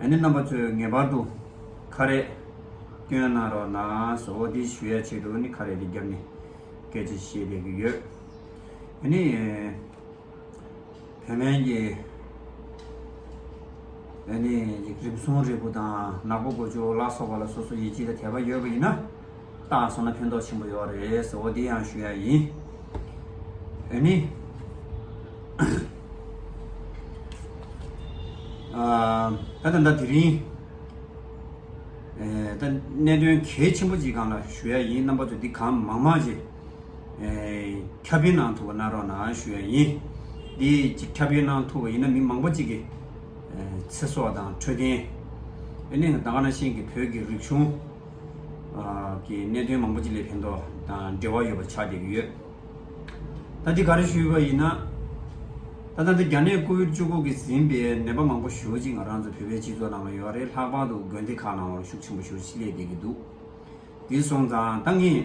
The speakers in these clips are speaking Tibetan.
ཨ་ནེ་རྣམ་པ་ཚོས་ངེས་པར་དུ་ཁ་རས་སྐྱོན་གནང་རོགས་གནང་སོ་འདི་ཞུ་ཡ་ཆེད་དུ་ནི་ཁ་རས་འདི་རྒྱབ་ནས་སྐད་ཆ་བཤད་བསྡད་ཀྱི་ཡོད་ཨ་ནེ། བོད་སྨན་གྱི་ཨ་ནེ་ཡིག་རིམ་སྲུང་རིགས་པོ་དང་ནག་པོ་དགོས་ཆོག་ལ་སོགས་པ་ལ་སོ་སོ་ཡིད་ཆེས་དང་དད་པ་ཡོད་པ་ཡིན་ན། བཏང་སོང་ན་ཕན་ཐོགས་ཆེན་པོ་ཡོད་རེད་ཟེར་བ་འདི་ཡང་ཞུ་ཡ་ཡིན། འོན་ནི། ད་ད་ལྟ་དེ་རིང། ད་གནད་དོན་གལ་ཆེན་པོ་ཅིག་གང་ལ་ཞུ་ཡ་ཡིན་རྣམ་པ་ཚོ་འདི་གང་མང་མང་ཅིག། ཁྱབ་སྤེལ་གནང་ཐུབ་པ་གནང་རོགས་གནང་ཞུ་ཡ་ཡིན། འདི་ཅིག་ཁྱབ་སྤེལ་གནང་ཐུབ་པ་ཡིན་ན་མི་མང་པོ་ཅིག་གི་ཚེ་སྲོག་དང་འཕྲོད་བསྟེན། འོན་ནི་ད་ག་ན་ཤེས་ཀྱི་བོད་ཀྱི་རིག་གཞུང། གི་གནད་དོན་མང་པོ་ཅིག་ལས་ཕན་ཐོགས་དང་འབྲེལ་བ་ཡོད་པ་ཆགས་བསྡད་ཡོད། ད་འདི་ག་རེ་ཞུས་པ་ཡིན་ན། ད་ལྟ་འདི་རྒྱ་ནད་ཀོ་བིར་བཅུ་དགུ་གིས་ཟིན་པའི་ནད་པ་མང་པོ་ཞོལ་གཅིག་ང་རང་ཚོ་བོད་པའི་སྤྱི་ཚོགས་ནང་ལ་ཡོད་རེད་ལྷག་པར་དུ་དགོན་སྡེ་ཁག་ནང་བར་ཤུགས་ཆེན་པོ་ཞོལ་གཅིག་སླེབས་བསྡད་ཀྱི་འདུག་འདི་སོང་ཙང་ད་ངས།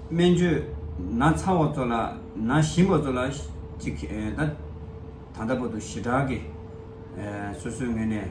སྨན་བཅོས་ན་ཚ་བ་ཚོ་ལ་ན་ཞིམ་པ་ཚོ་ལ་ཅིག་ད་ལྟ་བར་དུ་ཞི་དྲག་གིས་སོ་སོའི་ངོས་ནས།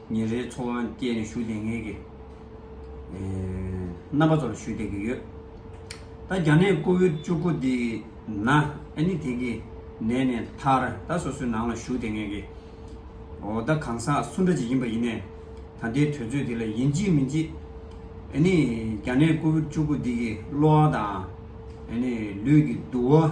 ཉིན་རེའི་འཚོ་བ་སྐྱེལ་ནས་ཞུ་བདེ་ངེས་ཀྱི་རྣམ་པ་ཚོར་ཞུ་བདེ་གི་ཡོད། ད་རྒྱ་ནད་ཀོ་བིར་བཅུ་དགུ་འདི་ན་ཨནི་དེ་གི་ནད་ནས་ཐར་ད་སོ་སོའི་ནང་ལ་ཞུ་བདེ་ངེས་གི་འོ་ད་གང་ཟག་སུ་འདྲ་ཅིག་ཡིན་པ་ཡིན་ནས་ད་ལྟའི་དུས་ཚོད་འདི་ལ་ཡིན་ཅི་མིན་ཅི་ཨནི་རྒྱ་ནད་ཀོ་བིར་བཅུ་དགུ་འདི་གི་གློ་བ་དང་ཨནི་ལུས་ཀྱི་དུ་བ།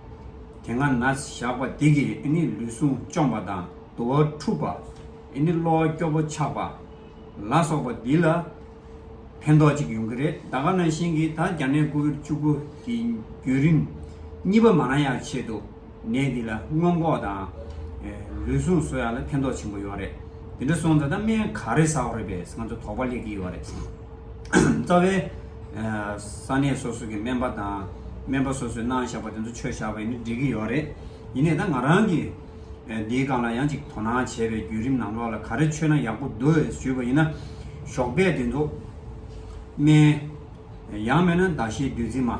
དེ་སྔ་ན་བཞག་པ་དེ་གིས་ཨེ་ནི་ལུས་ཟུངས་བཅོམ་པ་དང་དུ་བ་འཁྲུགས་པ། ཨེ་ནི་གློ་བ་སྐྱོ་པོ་ཆགས་པ། ལ་སོགས་པ་འདི་ལ་ཕན་ཐོགས་གཅིག་ཡོང་གི་རེད་ད་ག་ན་ཤིང་གིས་ད་རྒྱ་ནད་ཀོ་བིར་བཅུ་དགུ་གི་བརྒྱུད་རིམ་གཉིས་པ་མ་ན་ཡག་ཆེད་དུ་ནད་འདི་ལ་སྔོན་འགོག་དང། ལུས་ཟུངས་གསོ་ཡག་ལ་ཕན་ཐོགས་ཆེན་པོ་ཡོད་རེད་དེ་འདྲ་སོང་ད་ད་སྨན་ག་རེ་ཟ་བ་རེད་པས་ང་ཚོ་དོགས་པ་སླེབས་ཀྱི་ཡོད་རེད། རྩ་བའི། ས་གནས་སོ་སོ་གི་སྨན་པ་དང། སྨན་པ་སོ་སོས་གནང་བཞག་པ་དེ་ཚོ་ཆོས་བཞག་པ་ཡིན་ན་འགྲིག་གི་ཡོད་རེད། ཡིན་ནས་ད་ང་རང་གིས། འདིའི་སྒང་ལ་ཡང་ཅིག་དོ་སྣང་བྱས་པའི་བརྒྱུད་རིམ་ནང་ལོགས་ལ་ག་རེ་ཆོས་ན་ཡག་པོ་འདུག་ཨེ་ཞུས་པ་ཡིན་ན། ཞོགས་པས་དེ་ཚོ། སྨན། ཡང་མེད་ན་ཟླ་ཤས་དུས་ཚིགས་མ།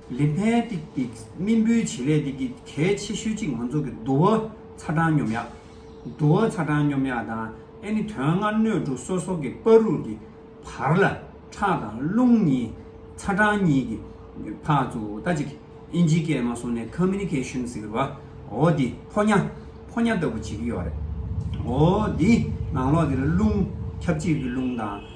ལི་ཕན་ཏིག་གི་སྨིན་བུའི་བྱེད་ལས་དེ་གི་གལ་ཆེ་ཤོས་གཅིག་ང་ཚོ་གི་བསྡུ་བ་ཚ་གྲང་སྙོམས་ཡག། བསྡུ་བ་ཚ་གྲང་སྙོམས་ཡག་དང་ཨེ་ནི་དོན་ལྔ་སྣོད་དྲུག་སོ་སོ་གི་པར་རུ་གི་བར་ལ་ཁྲག་དང་རླུང་གཉིས་ཚ་གྲང་གཉིས་གི་བར་དུ་ལྟ་ཅིག་ཨིན་ཇི་སྐད་མ་སོང་ནས Communication ཟེར་བ་འོ་འདི་ཕོ་ཉ་ཕོ་ཉ་ལྟ་བུ་བྱེད་ཀྱི་ཡོད་རེད། འོ་འདི་ནང་ལོགས་འདིར་རླུང་ཁྱབ་བྱེད་ཀྱི་རླུང་དང།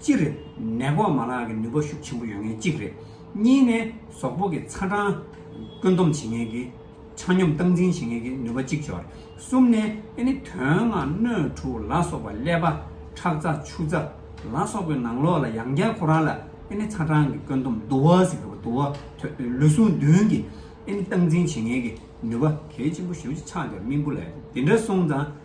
སྤྱིར་ནད་འགོག་མ་ལག་གི་ནུས་པ་ཤུགས་ཆེན་པོ་ཡོད་མཁན་གཅིག་རེད། གཉིས་ནས་ཟོག་པོ་གི་ཚ་གྲང་བཀོད་འདོམས་བྱེད་མཁན་གྱི་ཆ་སྙོམས་སྟངས་འཛིན་བྱེད་མཁན་གྱི་ནུས་པ་གཅིག་ཅོག་རེད། གསུམ་ནས་ཨེ་ནི་དོན་ལྔ་སྣོད་དྲུག་ལ་སོགས་པ་ཀླད་པ། ཁྲག་རྩ་ཆུ་རྩ། ལ་སོགས་པའི་ནང་ལོགས་ལ་ཡང་བསྐྱར་ཁོ་རང་ལ་ཨེ་ནི་ཚ་གྲང་གི་བཀོད་འདོམས་དུ་བ་ཟེར་གི་དུ་བ་ཐོད་ལུས་ཟུངས་བདུན་གྱི་ཨེ་ནི་སྟངས་འཛིན་བྱེད་མཁན་གྱི་ནུས་པ་གལ་ཆེན་པོ་ཞུ་ཆགས་ཀྱང་སྨིན་པོ་ལས་དེ་འདྲ་སོང་ཙང།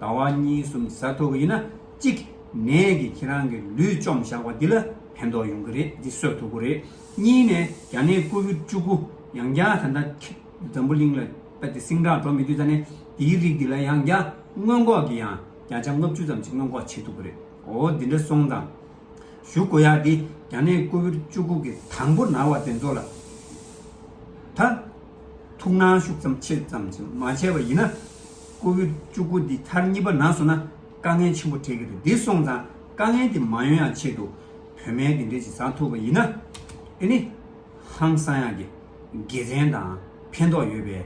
ཟླ་བ་གཉིས་གསུམ་ཟ་ཐུབ་པ་ཡིན་ན་གཅིག། ནས་ཀྱི་ཁྱེད་རང་གི་ལུས་བཅོམ་བཞག་པ་འདི་ལ་ཕན་ཐོག་ཡོང་གི་རེད་འདི་གསོད་ཐུབ་དགོས་རེད། གཉིས་ནས་རྒྱ་ནད་སྐུ་བོད་བཅུ་དགུ་ཡང་བསྐྱར་ད་ལྟ་འཛམ་བུ་གླིང་ལ་ལྟ་དེ་སིང་དྲག་འགྲོ་མི་དུས་ད་ནས་འདིའི་རིགས་འདི་ལ་ཡང་བསྐྱར་སྔོན་འགོག་གི་ཡང་བསྐྱར་ཆ་ལྔ་བཅུ་ཙམ་ཅིག་སྔོན་འགོག་བྱེད་ཐུབ་དགོས་རེད་འོ་འདི་འདྲ་སོང་ཙང། ཞུ་དགོས་ཡག་འདི་རྒྱ་ནད་སྐུ་བོད་བཅུ་དགུ་གི་དང་པོ་ན་བ་དེ་ཚོ་ལ་ད་ཐུགས་སྣང་ཤུགས་ཙམ་ཆེ་ཙམ་ཅིག་མ་བྱས་པ་ཡིན་ན། ཁོ་བོའི་སྤྲུལ་སྐུ་འདི་མཐར་གཉིས་པ་ན་སོང་ན་དཀའ་ངལ་ཆེན་པོ་འཕྲད་ཀྱི་རེད་འདི་སོང་ཙང་དཀའ་ངལ་དེ་མ་ཡོང་ཡང་ཆེད་དུ་བོད་སྨན་དེ་འདྲས་ཅིག་བཟའ་ཐུབ་པ་ཡིན་ན་དེ་ནི་ཧང་སང་ཡག་གི་དགེ་མཚན་དང་ཕན་ཐོག་ཡོད་པའི་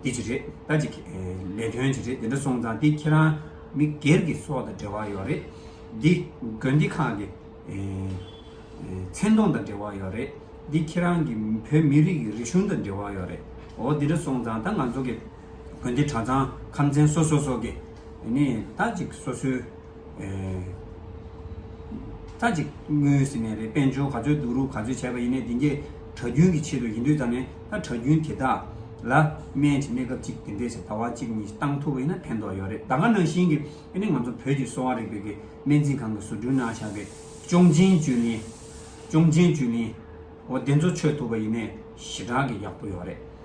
དེ་ཅིག་རེད་ད་ཅིག་ལས་དོན་ཅིག་རེད་དེ་འདྲ་སོང་ཙང་དེ་ཁྱེད་རང་མི་སྒེར་གྱི་སྲོག་དང་འབྲེལ་བ་ཡོད་རེད་འདི་དགོན་སྡེ་ཁག་གི་མཚན་མཐོང་དང་འབྲེལ་བ་ཡོད་རེད་འདི་ཁྱེད་རང་གི་བོད་མི་རིགས་ཀྱི་རིག་གཞུང་དང་འབྲེལ་བ་ཡོད་རེད་འོ་འདི་འདྲ་སོང་ཙང་ད་ང་ཚོ་གི། དགོན་སྡེ་གྲྭ་ཚང་ཁམས་ཚན་སོ་སོ་སོགས་ཀྱིས་ནི་མཐའ་གཅིག་སོ་སོའི་མཐའ་གཅིག་དངོས་ཟེར་ནས་རེད་དཔལ་འབྱོར་ག་ཚོད་བསྡུ་རུག་ག་ཚོད་བྱས་པ་ཡིན་ནའི་དེ་འདྲའི་གྲྭ་རྒྱུན་གྱི་ཆེད་དུ་ཡིན་དུས་ཙམ་ནས་ད་གྲྭ་རྒྱུན་དེ་དག་ལ་སྨན་གྱི་གནས་སྐབས་གཅིག་དེ་འདྲས་ཟེར་ཟླ་བ་གཅིག་གཉིས་བཏང་ཐུབ་པ་ཡིན་ན་ཕན་ཐོགས་ཡོད་རེད་ད་ག་ནང་བཞིན་གྱི་ནི་ང་ཚོ་བོད་ཀྱི་གསོ་བ་རིག་པའི་གི་སྨན་རྩིས་ཁང་གི་ཟུར་དྲུང་ན་བཞག་པའི་ཅོང་ཆེན་བཅུད་ལེན་ཅོང་ཆེན་བཅུད་ལེན་འོ་དེ་ཚོ་མཆོད་ཐུབ་པ་ཡིན་ནའི་ཞེ་དྲག་གི་ཡག་པོ་ཡོད་རེད།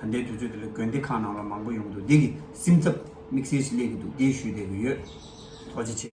ད་ལྟའི་དུས་ཚོད་འདི་ལ་དགོན་སྡེ་ཁག་ནང་ལ་མང་པོ་ཡོང་དུ་བདེ་གི་སེམས་འཚབ་དམིགས་བསལ་ཞིག་སླེབས་ཀྱི་འདུག་དེའི་ཞུས་བསྡད་ཀྱི་ཡོད་དོ། ཅི་ཆེ།